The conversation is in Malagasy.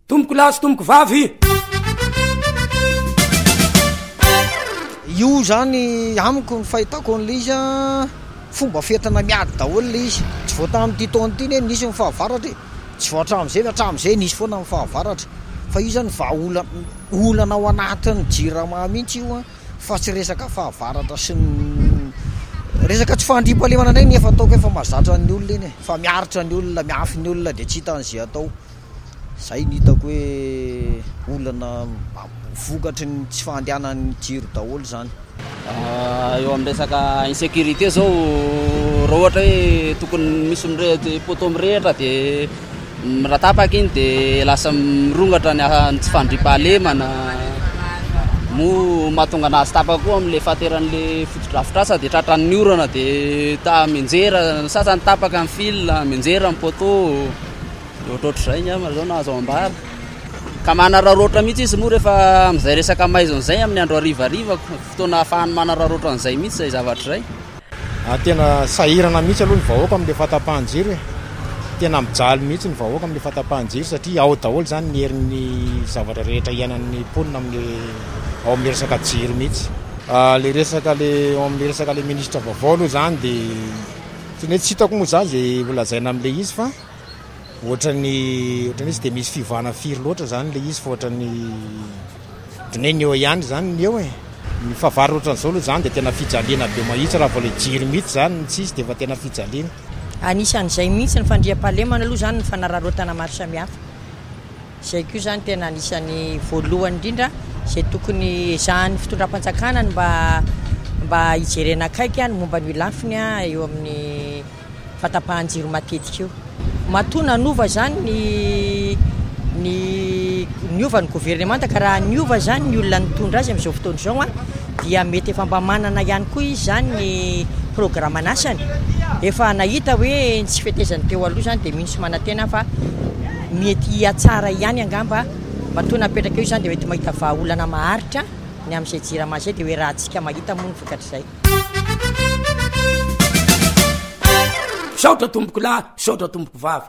Tompoko lahy sy tompoko vavy. Io zany amiko ny fahitako an'ilay izy a, fomba fientina miady daholo ilay izy, tsy vao tamin'ity taona ity anie nisy ny fahavaratra e, tsy vao hatramin'izay fa hatramin'izay nisy foana ny fahavaratra, fa io zany vahaolana olana ao anatin'ny jirama mihitsy io a. fa tsy resaka fahavaratra sy ny resaka tsy fahandriampahalemana indray ny efa ataoko efa mazatra ny olona iny e fa miaritra ny olona miafy ny olona dia tsy hita an'izay atao zay ny hitako hoe olana vokatry ny tsy fahandehanan'ny jiro daholo izany ah, eo amin'ny resaka insécurité zao raha ohatra hoe tokony misy mirehitra poteau mirehitra dia Raha tapaka iny dia lasa mirongatra ny tsy fandriampahalemana, moa mahatonga an'azy tapaka koa amin'ilay fateran'ilay fotodrafitrasa dia tratran'ny orana dia mianjera, ny sasany tapaka ny fil, mianjera ny poteau, dia ohatrohatr'izay angamba izao no azo ambara, ka manararaotra mihitsy izy moa rehefa amin'izay resaka maizina izay amin'ny andro harivariva, fotoana ahafahany manararaotra an'izay mihitsy izay zavatra izay. Tena sahirana mihitsy aloha ny vahoaka amin'ilay fahatapahan-jiro e! Tena mijaly mihitsy ny vahoaka amin'ilay fahatapahan-jiro satria ao daholo izany ny herin'ny zavatra rehetra iainan'ny mponina amin'ny ao amin'ny resaka jiro mihitsy. Ilay resaka ilay ao amin'ny resaka ilay minisitra vaovao aloha izany dia tena hoe tsy hitako moa izany izay holazaina amin'ilay izy fa ohatran'ny ohatran'ny hoe tsy dia misy fiovana firy loatra izany ilay izy fa ohatran'ny Dineny eo ihany zany ny eo e! Ny fahavalo otran'izao aloha zany dia tena fijaliana be mahitsy raha vao ilay jiro mihitsy zany no tsisy dia efa tena fijaliana. Anisan'izay mihitsy ny fandriampahalemana aloha zany ny fanararaotana maro samihafa. Izay koa zany tena anisan'ny voalohany indrindra izay tokony ezahan'ny fitondram-panjakana ny mba mba hijerena akaiky ny momba an'io lafiny eo amin'ny. fa tapahan-jiro matetika io. Matoa nanova izany ny ny niova ny governemanta ka raha niova izany ny olona nitondra azy amin'izao fotoana izao a dia mety efa mba manana ihany koa izy izany ny programan'asany, efa nahita hoe ny tsy fetezany teo aloha izany dia mino sy manantena aho fa mety hihatsara ihany angamba matoa napetraka eo izany dia mety mahita vahaolana maharitra ny amin'izay jirama izay dia hoe raha antsika mahita moa ny vokatr'izay. misaotra tompoko lahy misaotra tompoko vavy